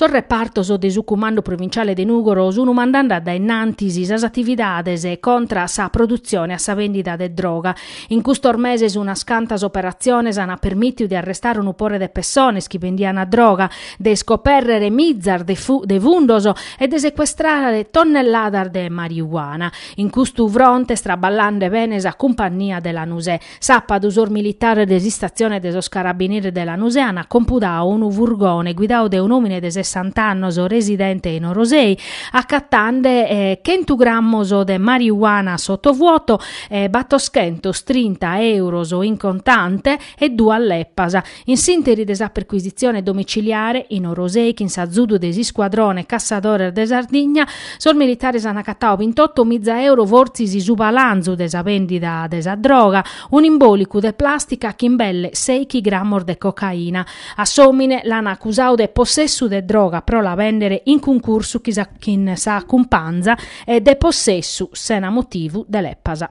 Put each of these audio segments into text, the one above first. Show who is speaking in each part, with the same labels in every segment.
Speaker 1: Sos repartos de su Cumandu Provinciale de Nùgoro sunu mandande a dae innantis sas atividades contra sa produtzione e sa bèndida de droga In custos meses unas cantas operatziones ant permìtiu de arrestare unu pore de pessones chi bendiant droga, de iscopèrrere mizas de fundos e de secuestrare tonnelladas de mariuana. In custu fronte est traballande bene sa cumpannia de Lanusè. Sàpadu sos militares de s'istatzione de sos Carabineris de Lanusè ant compudadu unu furgone guidadu dae un'òmine de sessant'annos residente in Orosei, acatende chentu grammos de mariuana a sotovuoto e battoschentos trinta euros in contante e duas leppas. In s'interi de sa perquisitzione domiciliare, in Orosei, chin s'azudu de s'iscuadrone Cassadores de Sardigna, sos militares an acatadu bintoto miza euros fortzis su palanzu de sa bèndida de sa droga, un'imbòlicu de plàstica chin belle seighi grammos de cocaina. A s'òmine l'an acusadu de possessu de droga pro la bèndere in cuncursu chin sa cumpanza E de possessu sena motivu de lepas.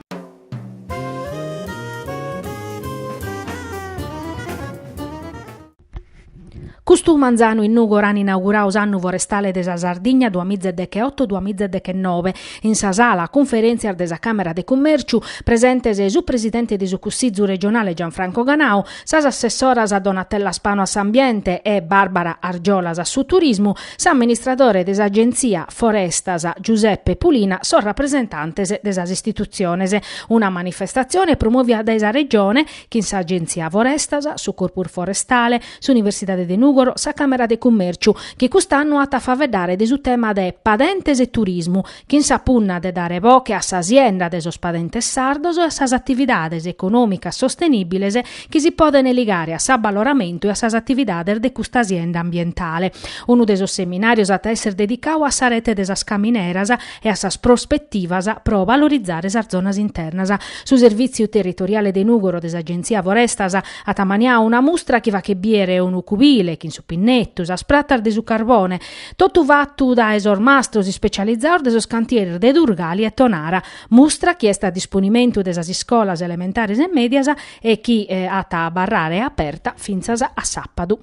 Speaker 1: Custu manzanu in Nùgoro an inaugurau s'annu forestale de sa Sardigna duamiza e deche otto duamiza e deche nobe in sa sala cunferentzias de sa Camera de Cummerciu, presentes su Presidente de su Cussizu Regionale Gianfranco Ganau, sas Assessoras Donatella Spano a s'Ambiente e Barbara Argiolas a su Turismu, s'amministradore de s'Agenzia Forestas Giuseppe Pulina sos rapresentantes de sas istitutziones. Una manifestatzione promovida dae sa Regione chin s'Agenzia Forestas, su Corpus Forestale, s'Universidade de Nùgoro, sa Càmera de Cummèrciu, chi cust'annu at a faeddare de su tema de Padentes e Turismu, chin sa punna de dare boche a sa sienda de sos padentes sardos e a sas atividades econòmicas sostenìbiles chi si podent ligare a s'abbaloramentu e a sas atividades de custa sienda ambientale. Unu de sos seminàrios at a èssere dedicadu a sa rete de sas camineras e a sas prospetivas pro valorizare sas zonas internas. Su Servìtziu Territoriale de Nùgoro de s'Agenzia Forestas at ammaniadu una mustra chi faghet bìdere unu cubile chin su pinnettu, sas pratas de su carbone, Totu fatu dae sos mastros ispecializados de sos cantieris de Durgali e Tonara, mustra chi est a disponimentu de sas iscolas elementares e mèdias e chi at a abarrare aperta fintzas a sàpadu.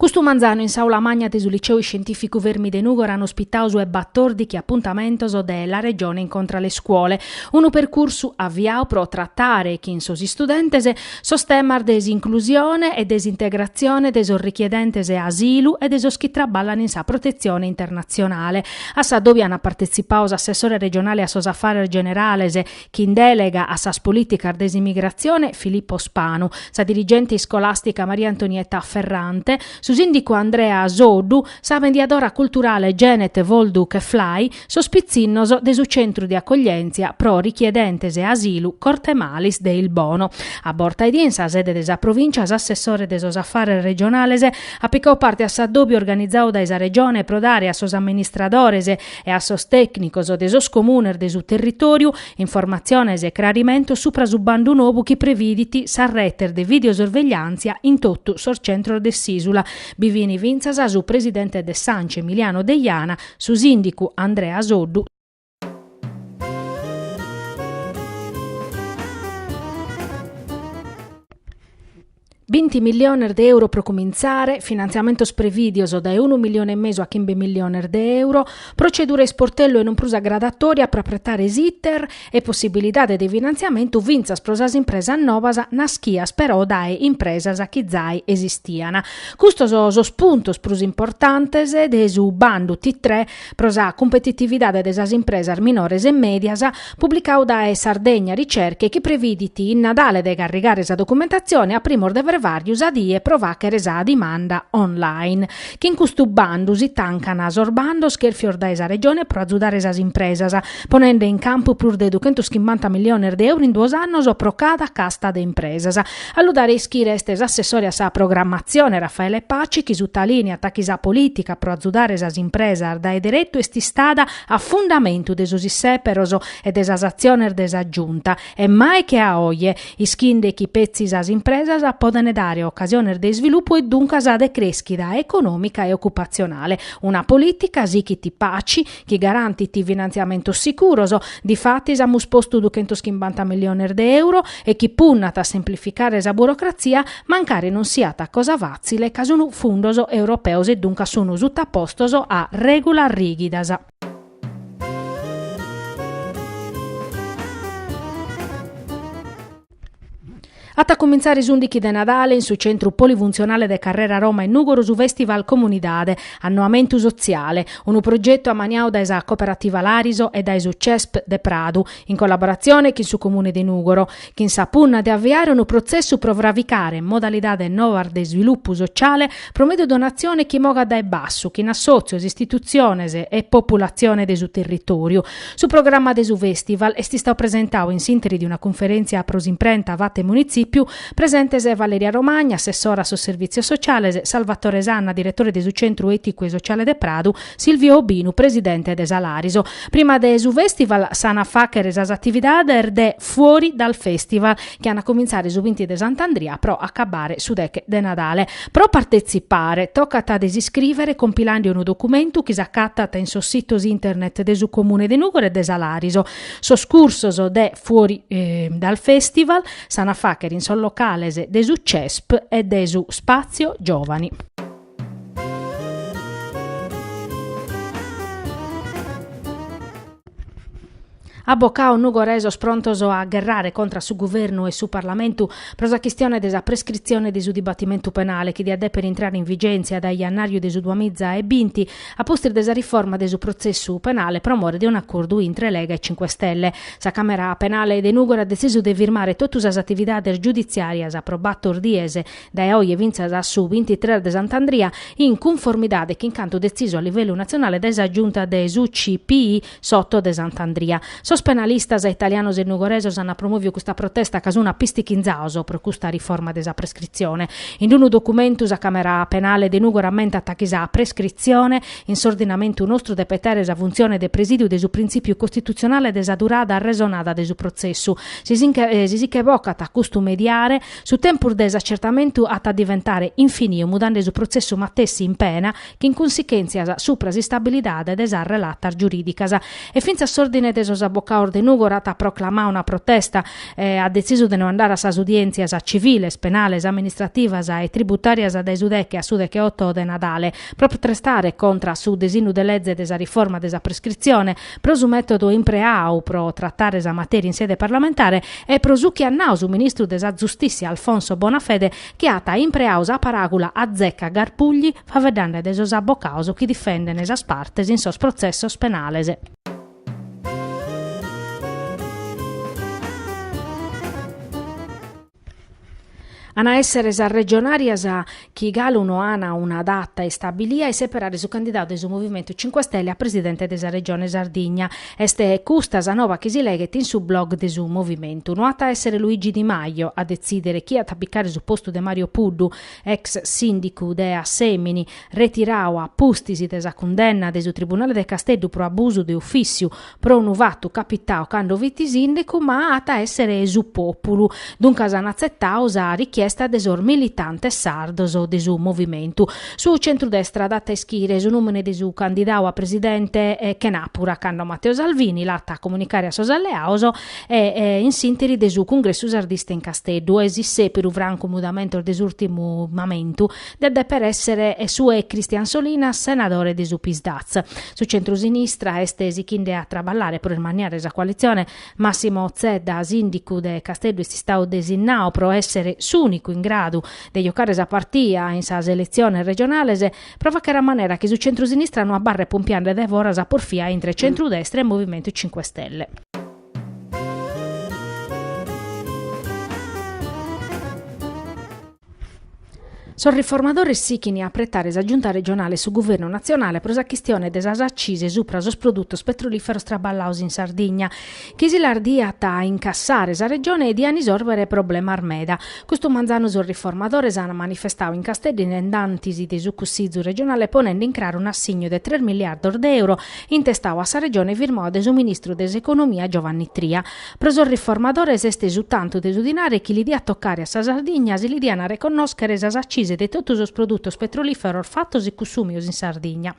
Speaker 1: Custu manzanu in s'aula magna de su Liceu Iscientìficu Fermi de Nùgoro an ospitau su 'e batòrdichi apuntamentos de La Regione incontra le scuole, unu percursu aviau pro tratare chin sos istudentes sos temas de s'inclusione e de s'integratzione de sos richiedentes asilu e de sos chi traballan in sa protetzione internatzionale. A s'addòbiu an partetzipau s'assessore regionale a sos Afares Generales, Chin dèlega a sas polìticas de s'imigratzione Filippo Spanu, sa dirigente iscolàstica Maria Antonietta Ferrante, su sìndicu Andrea Soddu, sa mediadora culturale Genet Woldu Keflay, sos pitzinnos de su centru de acoglièntzia pro richiedentes asilu Cortemalis de Ilbono. A borta 'e die in sa sede de sa Provìncia s'assessore de sos Afares Regionales at picau parte a s'addòbiu organizau dae sa Regione pro dare a sos amministradores e a sos tècnicos de sos comunes de su territòriu informatziones e crarimentos supra su bandu nou chi previdit sas retes de videosorvegliàntzia in totu sos centros de s'ìsula. Bi fin fintzas su presidente de s'Anci Emiliano Deiana, su sìndicu Andrea Soddu, Binti milliones de euro pro cumintzare, finantziamentos prevìdios dae unu milione e mesu a chimbe milliones de euro, protzedura a isportellu e non prus a graduatòria pro apretare s'iter e possibilidade de finantziamentu fintzas pro sas impresas novas naschias però dae impresas chi zai esistian. Custos sos puntos prus importantes de su bandu T-tre pro sa cumpetitividade de sas impresas minores e mèdias, publicau dae Sardegna Ricerche chi previdit in Nadale de carrigare sa documentatzione a primos de frevàrriu sa die pro fàchere sa dimanda online. Chin custu bandu si tancan sos bandos chèrfios dae sa Regione pro azudare sas impresas, ponende in campu prus de duchentos chimbanta milliones de euro in duos annos pro cada casta de impresas, A lu dare a ischire est s'assessore a sa programmatzione Raffaele Paci chi sutalìniat chi sa polìtica pro azudare sas impresas dae deretu est istada a fundamentu de sos issèperos e de sas atziones de sa Giunta e mai che a oje, ischinde chi petzi sas impresas podent dare ocasiones de isvilupu e duncas de crèschida econòmica e ocupatzionale. Una polìtica, sichit Paci, chi garantit finantziamentos sicuros, difatis amus postu duchentos chimbanta milliones de euro, e chi punnat a semplificare sa burocratzia, mancari non siat cosa fàtzile ca sunt fundos europeos e duncas sunt sutapostos a règulas rìghidas. At a cumintzare s'ùndighi de Nadale in su centru polifuntzionale de Carrera Roma in Nùgoro su Festival Comunidade, Annoamentu Sotziale, unu progetu ammaniadu dae sa Cooperativa Lariso e dae su Cesp de Pradu, in collaboratzione chin su Comune de Nùgoro, chin sa punna de aviare unu protzessu pro fravicare modalidades novas de isvilupu sotziale pro mèdiu de un'atzione chi mogat dae bassu, chin assòtzios, istitutziones e populatzione de su territòriu, Su programma de su fèstival est istadu presentadu in s'interi de una cunferèntzia pro s'imprenta fata in Munitzipiu, presentes Valeria Romagna, assessora a sos servìtzios sociales, Salvatore Sanna, diretore de su Centru Èticu e Sociale de Pradu, Silvio Obinu, presidente de sa Lariso. Prima de su fèstival s'an a fàghere sas atividades de Fuori dal Festival, chi an a cumintzare su binti de Sant'Andria pro acabbare su deche de Nadale. Pro partetzipare tocat de s'iscrìvere compilende unu documentu chi s'acatat in sos sitos internet de su Comune de Nùgoro e de sa Lariso. Sos cursos de Fuori dal Festival s'an a fàghere in sos locales de su CESP e de su Spazio Giovani. Abocados nugoresos prontos a gherrare contra su Guvernu e su Parlamentu pro sa chistione de sa prescritzione de su dibatimentu penale chi diat dèpere intrare in vigèntzia dae jannàriu de su duamiza e binti, a pustis de sa riforma de su protzessu penale pro more de un'acordu intre Lega e Cinque Stelle. Sa Càmera Penale de Nùgoro at detzisu de firmare totu sas atividades giuditzìarias pro bator dies Dae oje fintzas a su bintitres de Sant'Andria, in cunformidade chin cantu detzisu a livellu natzionale dae sa Giunta de s'UCPI s'oto de Sant'Andria, sos penalistas italianos e nugoresos ant promòviu custa protesta ca sun apistichinzados pro custa riforma de sa prescritzione. In unu documentu sa Càmera Penale de Nùgoro ammentat chi sa prescritzione, in s'ordinamentu nostru, depet àere sa funtzione de presìdiu de su printzìpiu costitutzionale de sa durada arresonada de su protzessu. Si si nche bocat custu mediare, Su tempus de s'acertamentu at a diventare infiniu mudende su protzessu matessi in pena chin cunsichèntzias supra s'istabilidade de sas relatas giurìdicas. E fintzas s'Òrdine de sos Abocados de Nùgoro at proclamadu una protesta e at detzisu de no andare a sas udièntzias tziviles, penales, amministrativas e tributàrias dae su deche a su deche-oto de Nadale, pro protestare contra su desinnu de leze de sa riforma de sa prescritzione, pro su mètodu impreadu pro tratare sa matèria in sede parlamentare e pro su chi at nadu su ministru de sa Giustìtzia Alfonso Bonafede chi at impreadu sa paràgula azzeccagarbugli faeddende de sos abocados chi difendent sas partes in sos protzessos penales. An a èssere sas regionàrias chi galu no an una data istabilia e seperare su candidadu de su Movimentu Cinque Stelle a presidente de sa Regione Sardigna. Est custa sa noba chi si leghet in su blog de su Movimentu. No at a èssere Luigi Di Maio a detzìdere chie at a picare su postu de Mario Puddu, ex sìndicu de Assèmini, retiradu a pustis de sa cundenna de su tribunale de Casteddu pro abusu de ufìssiu, pro unu fatu capitadu cando fit sìndicu, ma at a èssere su pòpulu, duncas an atzetadu sa richiesta de sos militantes sardos de su movimentu. Su centrudestra at a ischire su nùmene de su candidadu a presidente chenàpura cando Matteo Salvini l'at a comunicare a sos alleados e in s'ìnteri de su cungressu sardista in Casteddu e si sèberu francu mudamentos de s'ùrtimu mamentu diat dèper èssere su 'e Christian Solinas senadore de su Psd'Az. Su centrusinistra est sichende a traballare pro ismanniare sa coalitzione, Massimo Zedda, sìndicu de Casteddu, est istadu desinnadu pro èssere s'ùnicu in gradu de jocare sa partia in sas eletziones regionales, pro fàghere a manera chi su centrusinistra no abarret pompiende dae foras sa porfia intre centrudestra e Movimentu Cinque Stelle. Sos riformadores sighint a pretare sa Giunta regionale e su Guvernu natzionale pro sa chistione de sas accise subra sos produtos petrolìferos traballados in Sardigna, chi si las diat a incassare sa Regione e diant isòrbere problemas meda. Custu manzanu sos riformadores ant manifestadu in Casteddu, dae in antis de su Cussizu regionale ponende in craru un'assignu de tres miliardos de euro intestadu a sa Regione firmadu de su ministru de s'Economia Giovanni Tria. Pro sos riformadores est su tantu de su dinare chi li diat tocare a sa Sardigna si li dian reconnòschere sas accise de totu sos produtos petrolìferos fatos e cussùmios in Sardigna.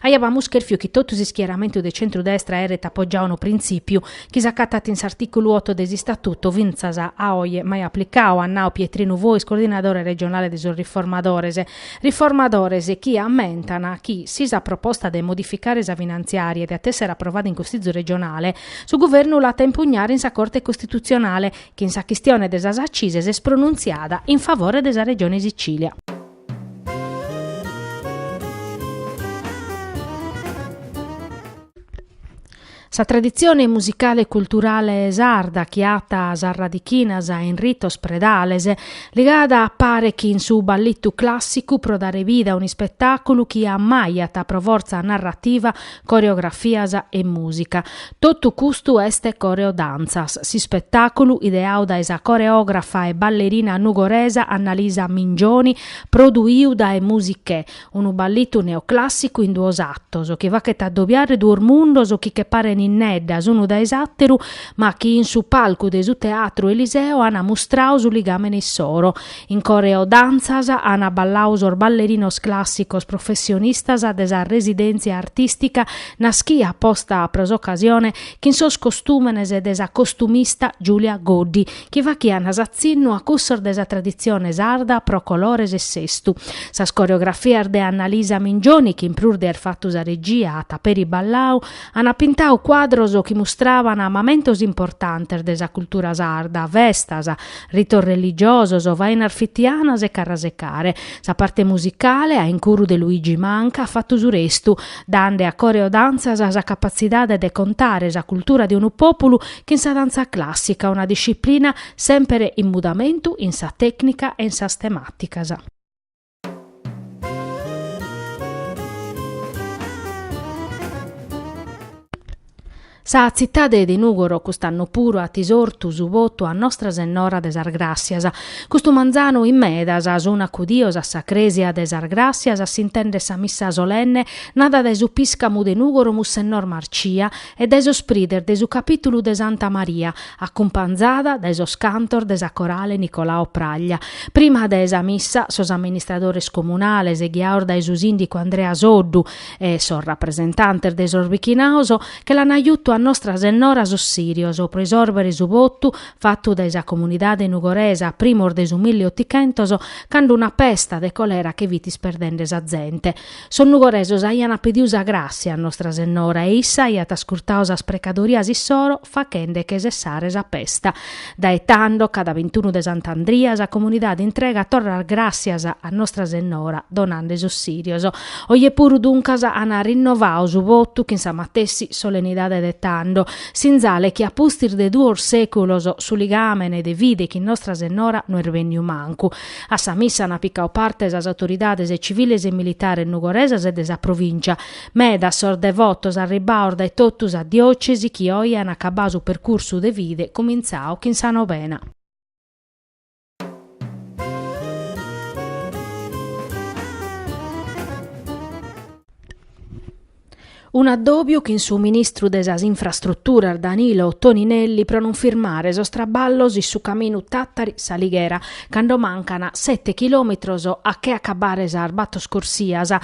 Speaker 1: Aìamus chèrfiu chi totu s'ischieramentu de centru-destra aeret apogiadu unu printzìpiu, chi s'acatat in s'artìculu oto de s'Istatutu, fintzas a oe mai aplicadu, at nadu Pietrinu Fois, coordinadore regionale de sos riformadores. Riformadores chi ammentan chi, si sa proposta de modificare sa finantziària diat èssere aprovada in Cussizu regionale, su Guvernu l'at a impugnare in sa Corte costitutzionale, chi in sa chistione de sas accise s'est pronuntziada in favore de sa Regione Sicìlia. Sa traditzione musicale e culturale sarda chi at sas radichinas in ritos predales, ligada a pare chin su balletu clàssicu pro dare vida a un'ispetàculu chi ammajat pro fortza narrativa, coreografias e mùsica. Totu custu est Coreodantzas, s'ispetàculu ideadu dae sa coreògrafa e ballerina nugoresa Annalisa Mingioni, produidu dae Musichè, Unu ballitu neoclàssicu in duos atos, chi faghet adobiare duos mundos chi che paren inneddas unu dae s'àteru, ma chi in su palcu de su Teatru Eliseo ant mustrau su ligàmene issoro. In Coreodantzas ant ballau sos ballerinos clàsicos professionistas de sa residèntzia artìstica naschida aposta pro s'ocasione chin sos costùmenes de sa costumista Giulia Goddi, chi fachiant s'atzinnu a cussos de sa traditzione sarda pro colores e sestu. Sas coreografias de Annalisa Mingioni, chi in prus de àer fatu sa regia at peri ballau, ant pintau cuadros chi mustraban mamentos importantes de sa cultura sarda, festas, ritos religiosos, fainas fitianas e carrasecare. Sa parte musicale, a incuru de Luigi Manca, at fatu su restu, dande a Coreodantzas sa capatzidade de contare sa cultura de unu pòpulu chin sa dantza clàssica, una disciplina semper in mudamentu in sa tècnica e in sas temàticas. Sa tzitade de Nùgoro cust'annu puru at isortu su votu a Nostra Sennora de sas Gràssias. Custu manzanu in medas sun acudidos a sa crèsia de sas Gràssias a s'intèndere sa missa solenne nada dae su piscamu de Nùgoro Mussennor Marcia, e dae sos prides de su capìtulu de Santa Maria, acumpanzada dae sos cantos de sa Corale Nicolao Praglia. Prima de sa missa, sos amministradores comunales, ghiaos dae su sìndicu Andrea Soddu, e sos rapresentantes de sos bichinaos, che l'an ajutu a Nostra Sennora sos sìrios pro isòrbere su votu fatu dae sa comunidade nugoresa a primos de su milli otichentos, cando una pesta de colera fit isperdende sa zente. Sos nugoresos aiant pediu sa gràssia a Nostra Sennora e issa aiat ascurtau sas precadorias issoro fachende che sessare sa pesta. Dae tando, cada bintunu de Sant'Andria, sa comunidade intregat torra gràssias a Nostra Sennora donande sos sirios. Oje puru, duncas, an rinnovau su votu chin sa matessi solenidade de tando. Sinzale chi a pustis de duos sèculos su ligàmene de fide chin Nostra Sennora no est bènniu mancu. A sa missa ant picau parte sas autoridades tziviles e militares nugoresas e de sa provìncia. Medas sos devotos arribbaos dae totu sa diòcesi chi oi ant acabbau su percursu de fide cumintzau chin sa novena. Un'addòbiu chin su ministru de sas Infrastruturas Danilo Toninelli pro non firmare sos traballos in su caminu Tàtari-S'Alighera, cando mancan sete chilòmetros a che acabbare sas batos corsias.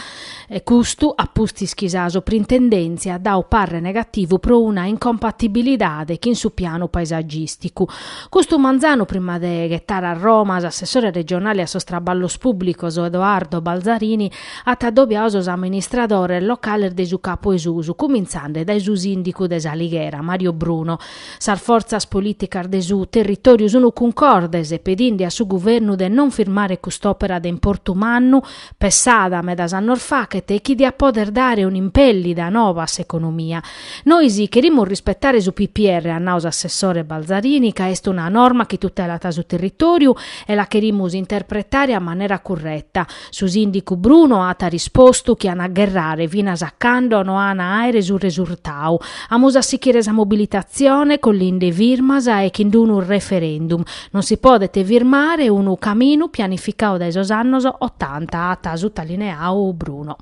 Speaker 1: Custu a pustis chi sa Suprintendèntzia at dau parre negativu pro una incompatibilidade chin su pianu paesagìsticu. Custu manzanu, prima de ghetare a Roma, s'assessore regionale a sos traballos pùblicos Edoardo Balzarini at addobiau sos amministradores locales de su Capo 'e Susu, cumintzende dae su sìndicu de S'Alighera, Mario Bruno. Sas fortzas polìticas de su territòriu sunt cuncordes pedinde a su guvernu de non firmare cust'òpera de importu mannu, pessada medas annos faghet e chi diat pòdere dare un'impèllida nova a s'economia. Nois cherimus rispetare su PPR, at nau s'assessore Balzarini, ca est una norma chi tutelat su territòriu e la cherimus interpretare a manera curreta. Su sìndicu Bruno at rispostu chi an a gherrare finas a cando no an a àere su resurtau. Amus a sichire sa mobilitatzione collinde firmas e chin unu referendum. Non si podet firmare unu caminu pianificau dae sos annos otanta, at sutalineau Bruno.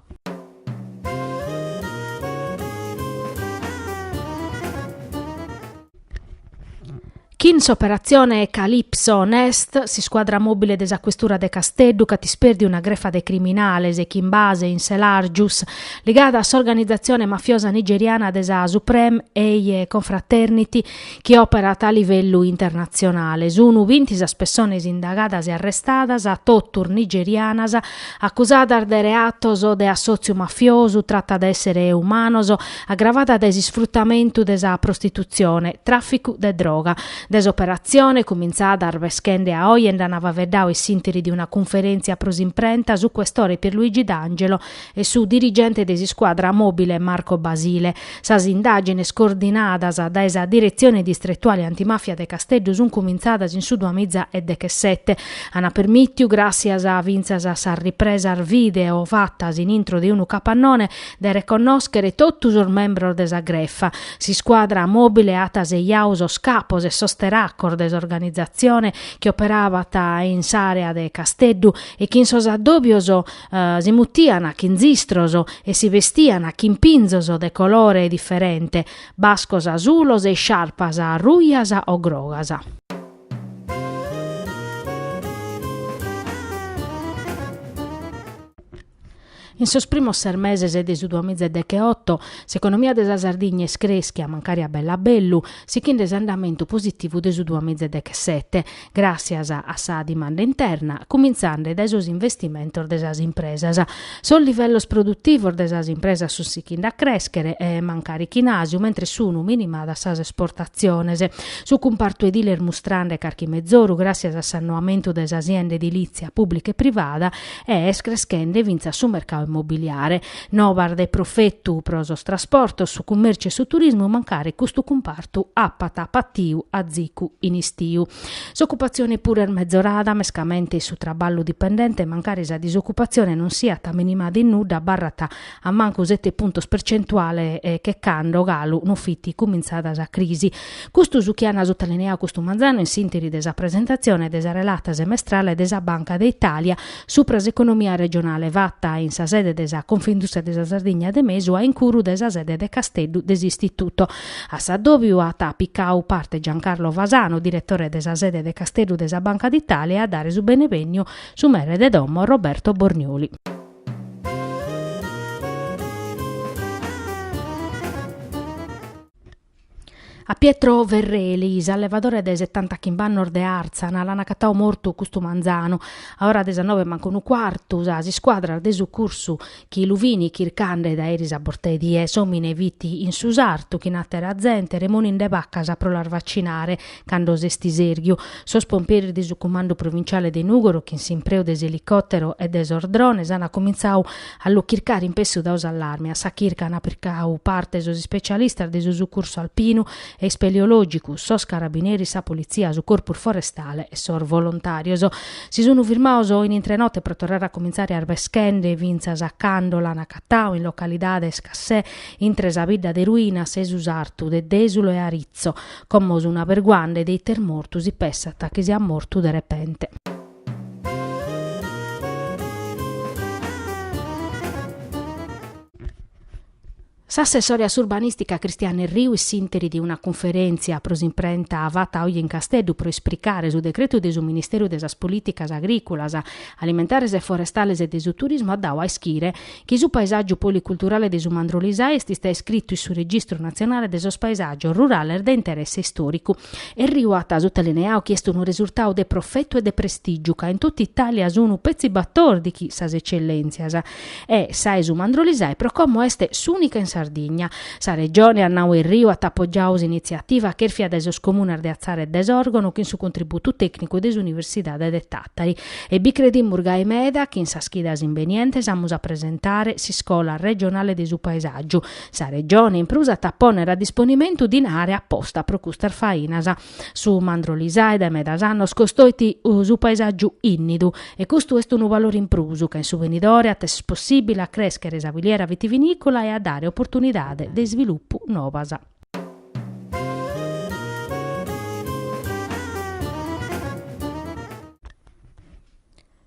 Speaker 1: Chin s'operatzione Calypso Nest, s'iscuadra mòbile de sa questura de Casteddu ch'at ispèrdiu una grefa de criminales, chin base in Selàrgius, ligada a s'organizatzione mafiosa nigeriana de sa Supreme Eiye Confraternity chi òperat a livellu internatzionale. Sunu binti sas pessones indagadas e arrestadas, totus nigerianas, acusadas de reatos de assòtziu mafiosu, trata de èssere umanos, agravada dae s'isfrutamentu de sa prostitutzione, tràficu de droga. De s'operatzione, cumintzada arbeschende a oje, nd'ant faveddau in s'interi de una cunferèntzia pro s'imprenta su questore Pierluigi D'Angelo e su dirigente de s'iscuadra mòbile Marco Basile. Sas indàgines coordinadas dae sa Diretzione Distretuale Antimàfia de Casteddu sunt cumintzadas in su duamiza e dechesete. Ant permìtiu, gràssias fintzas a sas ripresas video fatas in intro de unu capannone, de reconnòschere totu sos membros de sa grefa. S'iscuadra mòbile at assejau sos capos e sos teracos de s'organizatzione chi operabant in s'àrea de Casteddu e chi in sos addòbios si mutian chin zistros e si bestian chin pinzos de colore diferente, bascos asulos e isciarpas rujas o grogas. In sos primos ses meses de su duamiza e decheoto, s'economia de sa Sardigna est crèschia, mancari a bellu a bellu, sichinde s'andamentu positivu de su duamiza e dechesete, gràssias a sa dimanda interna, cumintzende dae sos investimentos de sas impresas. Sos livellos produtivos de sas impresas sunt sichinde a crèschere, mancari chin àsiu, mentres sunt minimadas sas esportatziones. Su cumpartu edile est mustrende carchi mezoru gràssias a s'annoamentu de sa sienda edilìtzia pùblica e privada, e est creschende fintzas su mercadu immobiliare. Nobas de profetu pro sos trasportos, su cummèrciu e su turismu mancari custu cumpartu apat patiu azicu in istiu. S'ocupatzione puru est mezorada, mescamente in su traballu dipendente mancari sa disocupatzione non siat minimada in nudda abarrat a mancu sete puntos percentuale che cando galu no fit cumintzada sa crisi. Custu su chi an sotalineau custu manzanu in s'interi de sa presentatzione de sa relata semestrale de sa Banca d'Italia supra s'economia regionale fata in sa sede de sa Confindustria de sa Sardigna de mesu a incuru de sa sede de Casteddu de s'Istituto. A s'addòbiu at picau parte Giancarlo Fasano, diretore de sa sede de Casteddu de sa Banca d'Italia e a dare su benevèniu su mere de domo Roberto Bornioli. A Pietro Ferreli, s'allevadore de setanta chimbannos de Àrzana, l'an acatadu mortu custu manzanu. A ora de sas noe mancu unu cuartu, sas iscuadras de sucursu chi lu fin chircande dae eris a borta 'e die, s'òmine fit in su sartu chin àtera zente remoninde bacas pro las vacinare. Cando s'est istèrghiu, sos pomperis de su Cumandu Provinciale de Nùgoro, chin s'impreu de s'elicòtero e de sos drones, ant comintzadu a lu chircare inpessu dadu s'allarme. A sa chirca ant picadu parte sos ispecialistas de su sucursu alpinu e ispeleològicu, sos carabineris, sa politzia, su corpu forestale e sos volontàrios. Si sunt firmados oje intre note pro torrare a comintzare arveschende fintzas a cando l'ant agatadu in localidade Cassè intre sa bidda de Ruinas e su sartu de Dèsulu e Aritzo. Como sunt aberguande de ite est mortu si pessant chi siat mortu de repente. S'assessore a s'Urbanìstica Cristianu Erriu in s'ìnteri de una cunferèntzia pro s'imprenta fata oje in Casteddu pro esplicare su decretu de su Ministèriu de sas Polìticas Agrìculas, Alimentares e Forestales e de su Turismu at dadu a ischire chi su paesàgiu policulturale de su Mandrolisai est istadu iscritu in su Registru natzionale de sos paesàgios rurales de interesse istòricu. Erriu at sutalineadu chi est unu resurtadu de profetu e de prestìgiu ca in totu Itàlia sunt petzi batòrdighi sas etzellèntzias e sa 'e su Mandrolisai pro como est s'ùnica in Sardigna. Sa Regione, at nadu Erriu at apogiadu s'initziativa chèrfia dae sos comunes de Atzara e de Sòrgono chin su contributu tècnicu de s'Universidade de Tàtari. E bi credimus gai meda chi in sas chidas imbenientes amus a presentare s'iscola regionale de su paesàgiu. Sa Regione in prus at a pònnere a disponimentu dinare aposta pro custas fainas. Su Mandrolisai dae medas annos costoit su paesàgiu innidu e custu est unu valore in prus ca in su venidore at a èssere possìbile a crèschere sa filiera vitivinìcola e a dare oportunidade de isvilupu novas.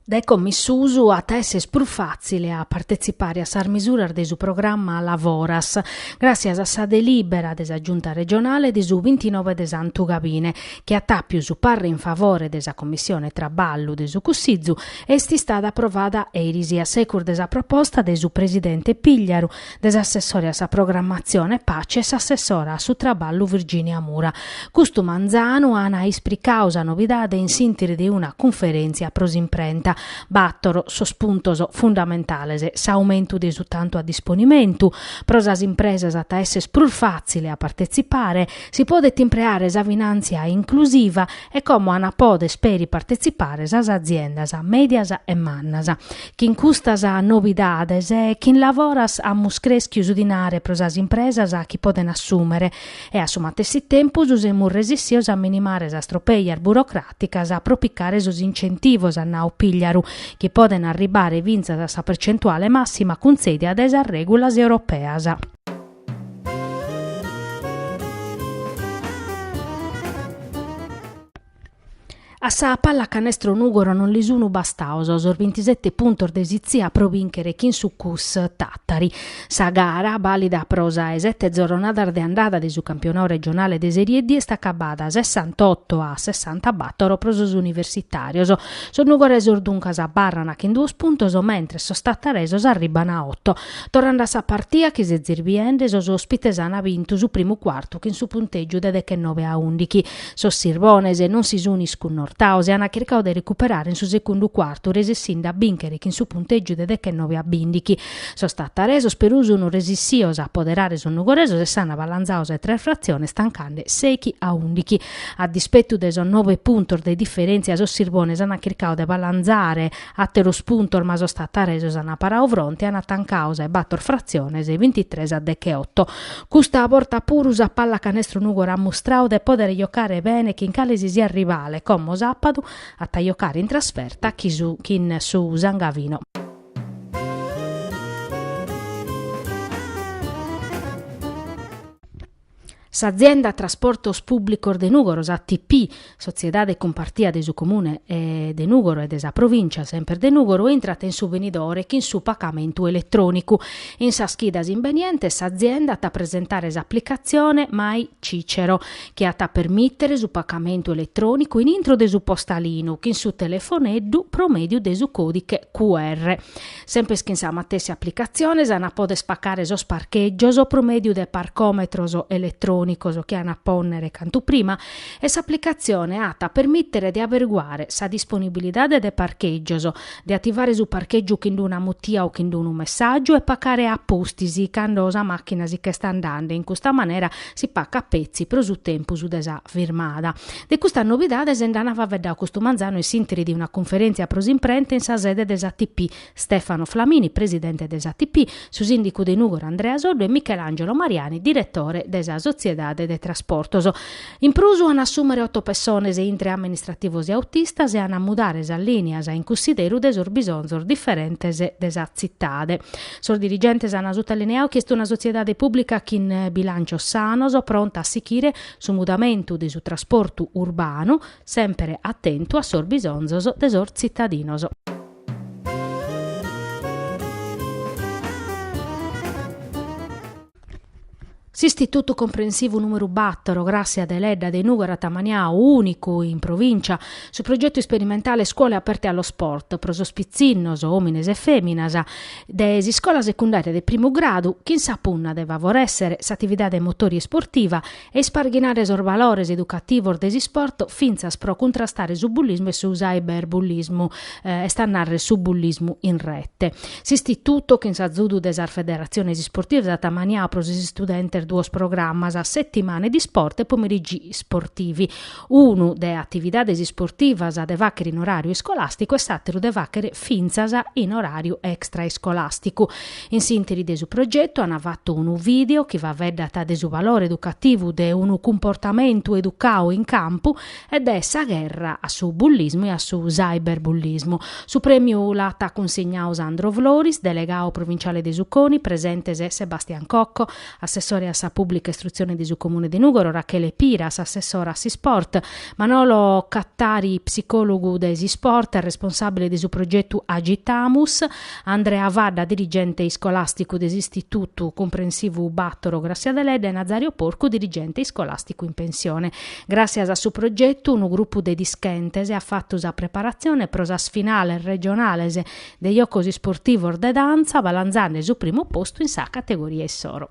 Speaker 1: Dae como in susu at a esser prus fàtzile a partetzipare a sas misuras de su programma Lavoras, gràssias a sa delìbera de sa Giunta regionale de su bintinove de Santu Gabine, chi at àpiu su parre in favore de sa Commissione Traballu de su Cussizu e est istada aprovada eris a secus de sa proposta de su presidente Pigliaru, de s'assessore a sa Programmatzione Paci e s'assessora a su Traballu Virginia Mura. Custu manzanu ana ispricau sa novidade in s'ìnteri de una cunferèntzia pro s'imprenta. Bator sos puntos fundamentales, s'aumentu de su tantu a disponimentu, pro sas impresas at a esser prus fàtzile a partetzipare, si podet impreare sa finàntzia inclusiva e como an a pòder peri partetzipare sas aziendas mèdias e mannas. Chin custas nobidades chin Lavoras amus crèschiu su dinare pro sas impresas chi podent assùmere e a su matessi tempus semus resissios a minimare sas tropèias burocràticas pro picare sos incentivos, at nau Pigliaru, chi podent arribbare fintzas a sa percentuale màssima cuntzèdia dae sas règulas europeas. A sa pallacanestro Nùgoro non li sunu bastaos sos bintisete puntos de Sitzia pro bìnchere chin su Cus Tàtari. Sa gara, bàlida pro sa 'e sete zoronadas de andada de su campionau regionale de Serie D est acabada sessantotto a sessantabàtoro pro sos universitàrios. Sos nugoresos duncas abarran chin duos puntos mentres sos tataresos arribban a oto. Torrande a sa partia chi s'est zirbiende sos òspites an bintu su primu cuartu chin su puntègiu de dechenobe a ùndichi. Sos Sirbones non si sun iscunnortaos e ana chircau de recuperare in su secundu cuartu resessinde a bìnchere chin su puntègiu de dechenobe a bìndichi. Sos tataresos perù sun resissios a apoderare sos nugoresos e s'an balanzau sa 'e tres fratziones tancande sèichi a ùndichi. A dispetu de sos nobe puntos de diferèntzia sos Sirbones ana chircau de balanzare Àteros puntos ma sos tataresos ana parau fronte e ana tancau sa 'e bator fratziones bintitres a decheoto. Custa borta puru sa pallacanestro Nùgoro at mustrau de pòdere jocare bene chin cale si siat rivale, como sàpadu at a jocare in trasferta chin su San Gavino. S'azienda Trasportos Pùblicos de Nùgoro, s'ATP, sotziedade cumpartia de su Comune de Nùgoro e de sa Provìncia semper de Nùgoro, intrat in su benidore chin su pagamentu eletrònicu. In sas chidas imbenientes s'azienda at a presentare s'aplicatzione My Cicero, chi at a permìtere su pagamentu eletrònicu in intro de su postalinu chin su telefoneddu pro mèdiu de su còdiche QR. Sempes chin sa matessi aplicatzione s'an a poder paccare sos parchègios pro mèdiu de parcòmetros eletrònicos chi an a pònnere cantu prima e s'aplicatzione at a permìtere de averiguare sa disponibilidade de parchègios, de ativare su parchègiu chin d'una mutia o chin d'unu messàgiu e paccare a pustis cando sa màchina si ch'est andende, in custa manera si pacat petzi pro su tempus de sa firmada. De custas nobidades nd'ant faveddau custu manzanu in s'interi de una cunferèntzia pro s'imprenta in sa sede de s'ATP, Stefano Flamini, presidente de s'ATP, su sìndicu de Nùgoro Andrea Soddu e Michelangelo Mariani, diretore de sa sotziedade de trasportos. In prus an a assùmere oto pessones intre amministrativos e autistas e an a mudare sas lìnias in cussideru de sos bisonzos diferentes de sa tzitade. Sos dirigentes an sutalineadu chi est una sotziedade pùblica chin bilàncios sanos, pronta a sichire su mudamentu de su trasportu urbanu, sempre atentu a sos bisonzos de sos tzitadinos. S'Istitutu Comprensivu numeru battoro Grassia Deledda de Nùgoro at amaniau, ùnicu in provìncia, su progetu isperimentale Scuole aperte allo sport, pro sos pitzinnos, òmines e fèminas, de s'iscola secundària de primu gradu chin sa punna de favorèssere s'atividade motòria e isportiva e isparghinare sos balores educativos de s'isport fintzas pro cuntrastare su bullismu e su cyberbullismu, est a nàrrere su bullismu in rete. S'istitutu, chin s'azudu de sas federatziones isportivas, at amaniau pro sos istudentes duos programas, Settimane di Sport e Pomeriggi Sportivi, unu de atividades isportivas de fàghere in oràriu iscolàsticu e s'àteru de fàghere fintzas in oràriu extraiscolàsticu. In s'ìnteri de su progetu ant fatu unu vìdeo chi faveddat de su valore educativu de unu cumportamentu educau in campu e de sa gherra a su bullismu e a su cyberbullismu. Su prèmiu l'at cunsignau Sandro Floris, delegau provinciale de su CONI, presentes Sebastian Cocco, assessore a sa Pùblica Istrutzione de su Comune de Nùgoro, Rachele Piras, assessora a s'Isport, Manolo Cattari, psicòlogu de s'Isport e responsàbile de su progetu Agitamus, Andrea Fadda, dirigente iscolàsticu de s'Istitutu Cumprensivu Bàtoro Grassia Deledda e Nazario Porcu, dirigente iscolàsticu in pensione. Gràssias a su progetu, unu grupu de dischentes at fatu sa preparatzione pro sas finales regionales de jocos isportivos de dantza balanzande su primu postu in sa categoria issoro.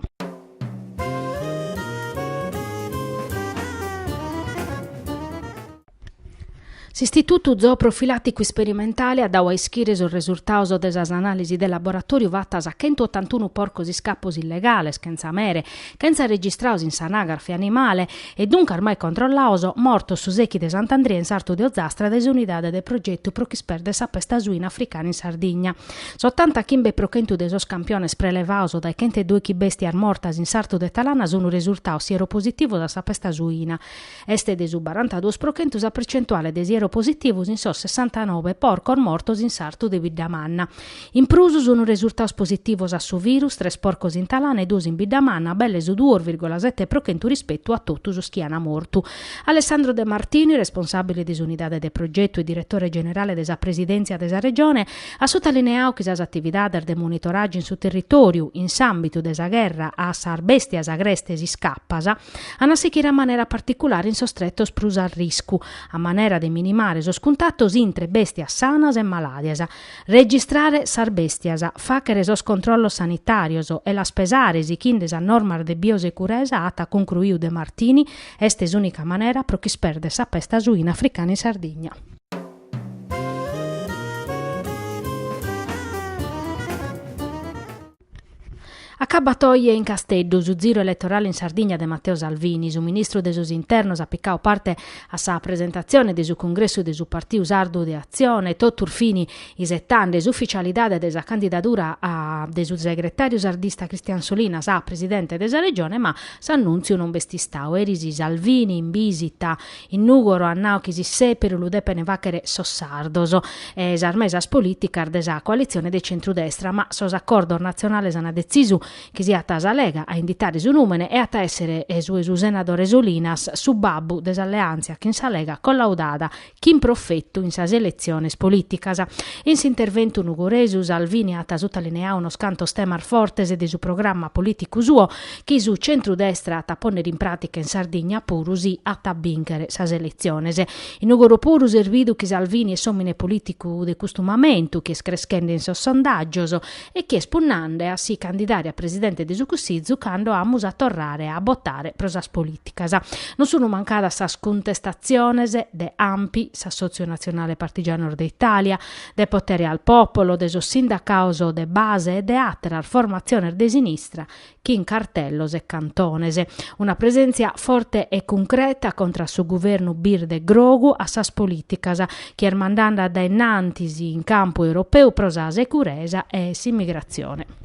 Speaker 1: S'Istitutu Zooprofilàticu Isperimentale at dau a ischire sos resultados de sas anàlisis de laboratòriu fatas a chentu otantunu porcos iscapos illegales, chentza mere, Chentza registrados in s'anagrafe animale e duncas mai controllados, mortos su sechi de Sant'Andria in sartu de Ozastra dae s'Unidade de Progetu pro ch'ispèrder sa pesta suina africana in Sardigna, s'otanta chimbe pro chentu de sos campiones prelevados dae chentedòichi bèstias mortas in sartu de Talana sun resurtados sieropositivos a sa pesta suina. Est de su barantaduos pro chentu sa percentuale de sieropositivos in sos sessantanobe porcos mortos in sartu de Biddamanna. In prus sun resurtados positivos a su virus tres porcos in Talana e duos in Biddamanna, belle su duos virgola sette pro chentu rispetu a totu sos chi an mortu. Alessandro De Martini, responsàbile de s'unidade de progetu e diretore generale de sa Presidèntzia de sa Regione, at sotalineadu chi sas atividades de monitoràgiu in su territòriu, in s'àmbitu de sa gherra a sas bèstias agrestes iscapas, An a sichire a manera particulare in sos tretos prus a riscu, a manera de minimare sos cuntatos intre bèstias sanas e malàdias, registrare sas bèstias, fàghere sos controllos sanitàrios e las pesare sighende sas normas de biosecuresa, at cuncruiu De Martini, est s'ùnica manera pro ch'ispèrder sa pesta suina africana in Sardigna. Acabat oje in Casteddu su ziru eletorale in Sardigna de Matteo Salvini. Su ministru de sos Internos at picadu parte a sa presentatzione de su congressu de su partiu sardu de Atzione, totus fini isetende s'ufficialidade de sa candidadura de su segretàriu sardista Cristian Solinas a presidente de sa Regione, ma s'annùntziu non b'est istadu. Eris Salvini in bìsita In Nùgoro at nau chi s'issèperu lu depent fàghere sos sardos e sas mesas polìticas de sa coalitzione de centru-destra, ma sos acordos natzionales ant detzisu chi siat sa Lega a inditare su nùmene e at a èssere su 'e su senadore Solinas su babbu de s'alleàntzia chin sa Lega collaudada chin profetu in sas eletziones polìticas. In s'interventu nugoresu Salvini at sutalineadu unos cantos temas fortes de su programma polìticu suo, chi su centru-destra at a pònnere in pràtica in Sardigna puru si at a bìnchere sas eletziones. In Nùgoro puru s'est bidu chi Salvini est s'òmine polìticu de custu mamentu, chi est creschende in sos sondàgios e chi est punnende a si candidare a presidente de su Cussizu cando amus a torrare a botare pro sas polìticas. Non sunt mancadas sas cuntestatziones de Anpi, s'Assòtziu Natzionale Partigianos de Itàlia, de Potere al Popolo, de sos sindacados de base e de àteras formatziones de sinistra chin cartellos e cantones. Una presèntzia forte e cuncreta contra a su guvernu birde grogu a sas polìticas chi est mandende dae innantis in campu europeu pro sa seguresa e s'imigratzione.